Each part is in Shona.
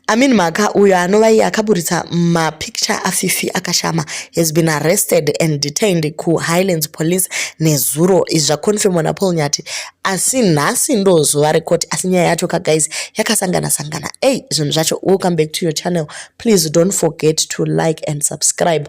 Amin Mhaka uyo anova iye akaburitsa mapicture aFifi akashama has been arrested and detained kuHighlands Police nezuro. Izvi zvakonfirmwa naPaul Nyati asi nhasi ndo zuva recourt asi nyaya yacho ka guys yakasangana sangana. Ey zvinhu zvacho. Welcome back to your channel. Please don't forget to like and subscribe.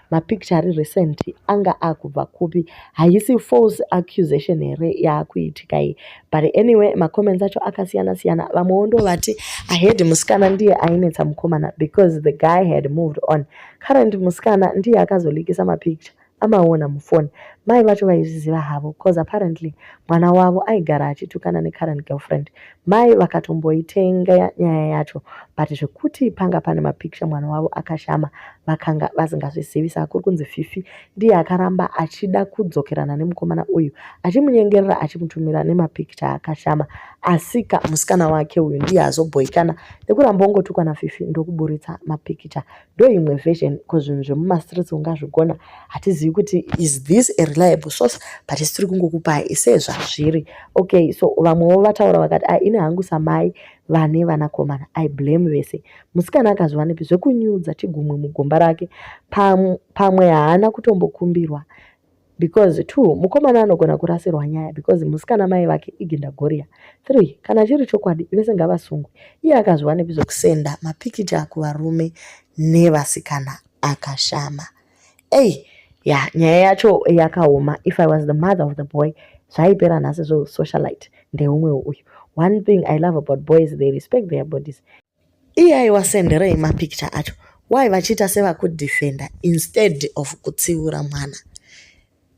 mapicture ari recent anga akubva kupi haisi false accusation here yaakuitika iyi but anyway macomments acho akasiyana siyana vamwewo ndo vati ahead musikana ndiye ainetsa mukomana because the guy had moved on current musikana ndiye akazolikisa mapicture amaona mufoni mai vacho vaizviziva havo bcause apparently mwana wavo aigara achitukana necurrent girlfriend Mai vakatomboitenga nyaya yacho but zvekuti panga pane mapicture mwana wavo akashama vakanga vasingazvizivi saka kuri kunzi Fifi ndiye akaramba achida kudzokerana nemukomana uyu achimunyengerera achimutumira nemapicture akashama asika musikana wake uyu ndiye azobhoikana nekuramba ongotukwa naFifi ndokuburitsa mapicture ndoimwe version because zvinhu zvemumastreets ungazvigona hatizivi kuti is this a reliable source but tiri kungokupai ise zvazviri okay so vamwewo vataura vakati a ah, ini hangu samai vane vanakomana i blame vese musikana akazviwanepi zvekunyudza chigumwe mugomba rake pamwe haana kutombokumbirwa because two mukomana anogona kurasirwa nyaya because musikana mai vake igindagoriya three kana chiri chokwadi vese ngavasungwe iye akazviwanepi zvekusenda mapikicha kuvarume nevasikana akashama ei ya nyaya yacho yakaoma if i was the mother of the boy zvaipera nhasi zvosocialite ndeumwewo uyu one thing i love about boys they respect their bodies Iye aiwa senderei ma picture acho. Why vachiita sevaku defender instead of kutsiura mwana.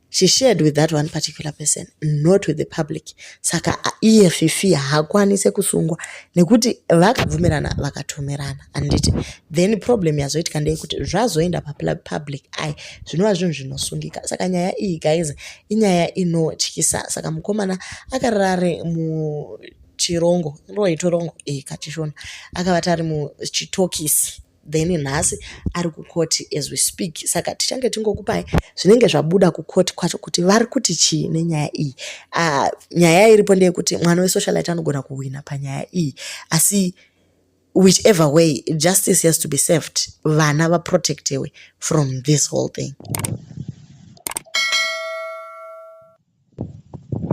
She shared with that one particular person not with the public. Saka iye Fifi haakwanise kusungwa nekuti vakabvumirana vakatumirana anditi. Then problem yazoitika ndeyekuti zvazoenda pa public ai zvinova zvinhu zvinosungika. Saka nyaya iyi guys inyaya inotyisa. Saka mukomana akarare mu chirongo inova itorongo e kachishona akavata ari muchitokisi then nhasi ari kukoti as we speak saka tichange tingokupai zvinenge zvabuda kukoti kwacho kuti vari kuti chii nenyaya iyi uh, nyaya iripo ndeyekuti mwana wesocialite anogona kuhwina panyaya iyi asi whichever way justice has to be served vana vaprotectewe from this whole thing